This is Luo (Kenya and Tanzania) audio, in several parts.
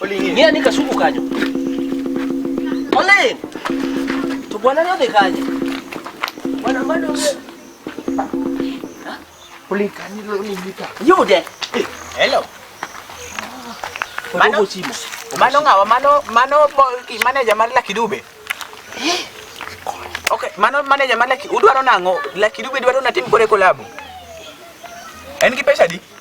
Olingi ani kasuku kanyo. Ole. To bwana leo dekaje. Bwana bado wewe. Ole kani leo ni vita. Yude. Hello. Mano chimo. Mano ngawa mano mano manager mar Lucky Dube. Okay, mano manager mar Lucky udwaro nango? Lucky Dube dwaro natim kore collab. En gi pesa di?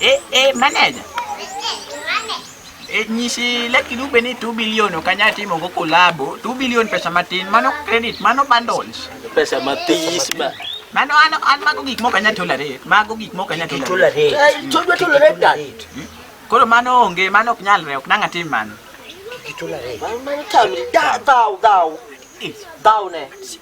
Eh, eh, manager. Eh, nyisi laki dube ni 2 billion ok anyal timo go kolabo 2 billion pesa matin mano credit mano bundles Pesa matis ba. mano an an mago gik moko anyal tolerate mago gik moko anyal tolerate Eh, Chojwa to lere dan. koro mano onge mano ok nyalre ok nang' atim mano Mano tamri da thou thou. Thou ne.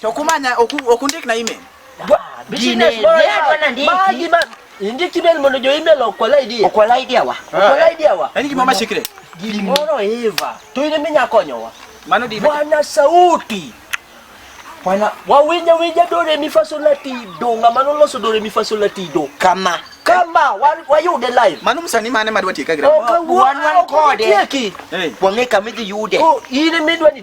To kumanya okundik na email. Business boy bwana ndiki. Maji ma ndiki bel mondo jo email okwala idea. Okwala idea wa. Ah, okwala eh. idea wa. Yaani kimama secret. Gimoro Eva. To ine minya konyowa. Mano di. Bwana sauti. Bwana wawinja winja do re mi fa sol la ti do ngama no loso do re mi fa sol la ti do. Kama. Kama wayude live. Mano msanii mane madwa tieka gram. Wan wan kode. Wang'e kama idhi yude. Oh, in midwa ni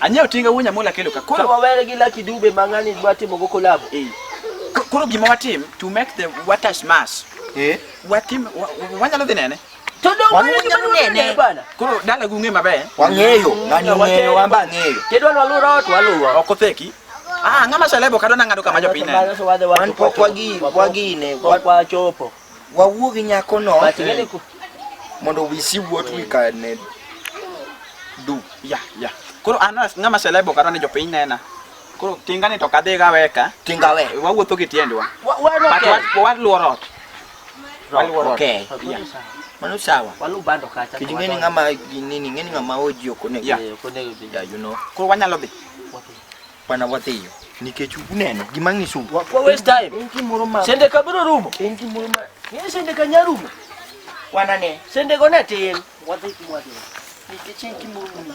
anyewo tinga wuonya mola kelo ka koro wawere gi laki dube mang'ani dwa timo go kolabo eh. koro gima watim to make the waters mass eh? watim wanyalo dhi nene Dala gung'e maber. Wang'eyo, ng'ani ong'eyo wamba ng'eyo. Kedwa lwalura watu waluwa. Ok otheki. Ah, ng'ama selebo kadwa nang'ado kama jopiny neno. Wan pok wagi wagine, pok wachopo. Wawuo gi nyako no. Mondo wisi wuot wi ka ne du. Ya, ya. Koro an ng'ama selebo kadwa ni jopiny nena. Koro tinga ni to kadhi gaweka. Tinga we. Wawuotho gi tiendwa. Waluoro ot. Okay. Yeah. Mano sawa. Walu bando kacha. Kiji ngeni ngama nini ngeni ngama oji okone. Yeah. Yeah, you know. Kwa wanyalo bi. Wapi? Wana watiyo. Nikech uneno gima ngisu. Kwa waste time. Inki moro ma. Sende kabiro rumo. Inki moro ma. Ngeni sende kanyarumo. Wana ne. Sende gone tin. Wadhi kumwa. Nikech inki moro ma.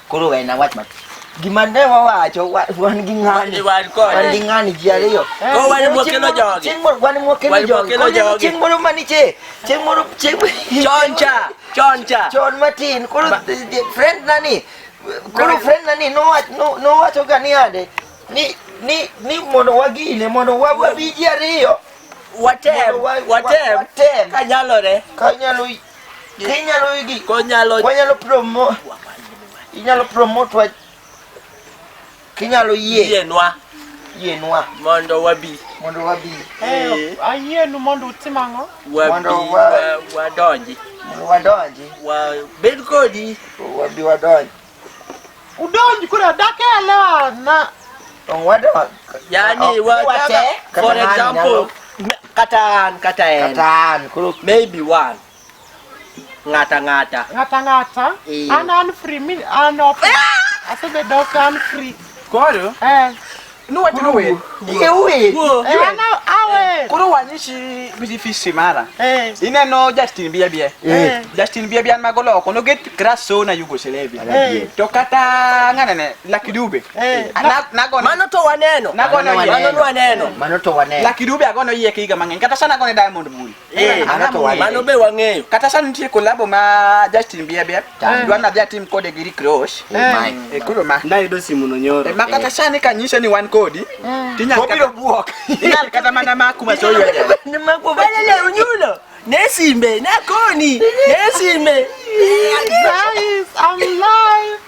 Koro we na wach matin. Gima ne wawacho wan gi ng'ani. Wan kode. Wan gi ng'ani ji ariyo. Ko wan mwakelo jogi. Chieng' moro wan mwakelo jogi. Wan mwakelo jogi. Chieng' moro maniche. Chieng' moro chieng' choncha. Choncha. Chon matin. Koro friend nani. Koro friend nani nowach nowacho ga ni ade. Ni ni ni mondo wagine mondo wabi ji ariyo. Watem. Watem. Kanyalore. Kanyalo Inyalo igi. Konyalo. Wanyalo promo. Inyalo promote wa. Kinyalo yie. Yie nwa. Yie nwa. Mondo wabi. Mondo wabi. Eh, ayie nu mondo utim ang'o? Wabi. Mondo wadonji. Mondo wadonji. Wabed kodi. Wabi wadonji. Udonji kule adake elewa na Tong wada wa. Yani Oh, wa wate, kata for kata nani example nyalo. me- kata an kata en Katan kuru. maybe one ng'ata ng'ata ng'ata ng'ata Eh. an an free mi an open asebedo ok an free Koro eh No what no way. Ye we. Ana awe. Kuru wanyishi biji fi simara. Eh. Ine no Justin bia bia. Eh. Justin bia bia magolo kono get kraso na Yugoslavia. Eh. To kata ngana ne lakidube. Eh. Ana nago Mano to waneno. Nago no waneno. Mano to waneno. Lakidube agono yie kiga mangen. Kata sana gone diamond muli. Eh, mano be wang'eyo kata sani nitie kolabo ma Justin Bieber dwa nadhi atim kode gi Rick Ross oh eh, koro ma nayudo simuno nyoro eh, ma kata eh. sani kanyise ni wan kodi mm. tinyalobiro bwok inyal kata mana maku masoyunyulo nesimbe nakoni nesimbe Guys, I'm live.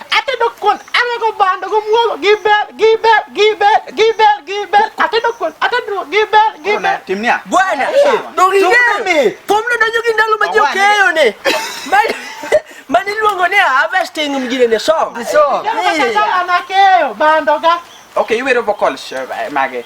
ate do kon ame ko bando ko muogo gibel gibel gibel gibel gibel ate do kon ate do gibel gibel timnia bwana dogingere komno donjo gi ndalo ma jo keyo ne mani luongo ni harvesting mjine ne song so ana keyo bando ga okay iwero vocals eh, mage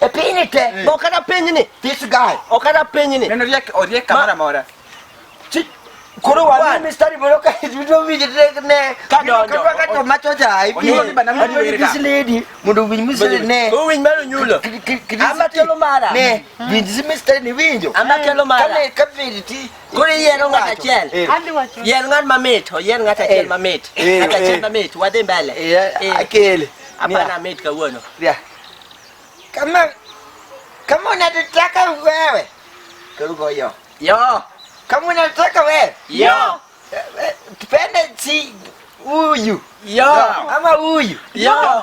E piny te. Eh. Bo kata piny ni. This guy. O kata piny ni. Neno riek o riek kamera mora. Chi koro wa ni mistari bolo ka video video te ne. Ka do. Ka wa ka to macho ja ai. Onyo ni bana mwana wira. This lady mundu win mistari ne. Ko win mero nyulo. Ama kelo mara. Ne. Win this mistari ni winjo. Ama kelo mara. Kale ka vidi ti. Koro iyiero ng'at achiel. Yier ng'at mamit, oyier ng'at achiel mamit. Ng'at achiel mamit, wadhi mbele. Akele. Hapana mit kawuono. Yeah. Kama kama unataka wewe. Karibu yo. Yo. Kama unataka wewe. Yo. Tupende si huyu. Yo. Ama huyu. Yo.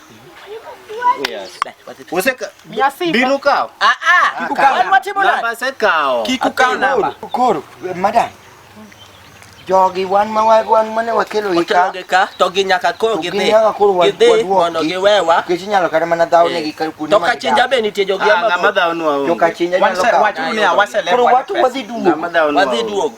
jogi wan ma wan mane wakelo ika to gi nyaka koro gi dhi gi dhi mondo gi wewa kech nyalo kare mana dhaw ne gi kar kuno to ka chinja be nitie jogi ah, ma ma dhaw no to ka chinja nyalo ka wacho ne awase le koro wacho wadhi duogo wadhi duogo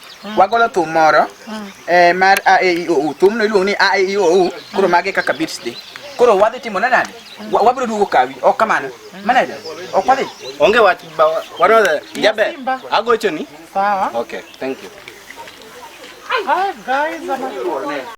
Mm. wagolo thum moro mm. eh, mar a e i o u thumno iluongo ni a e i o u koro mm. mage kaka beats dhi koro wadhi timo ne nade wabiro duogo kawi ok kamano manager ok wadhi onge wach wanodhe jabe agochoni sawa okay thank you Hi guys, I'm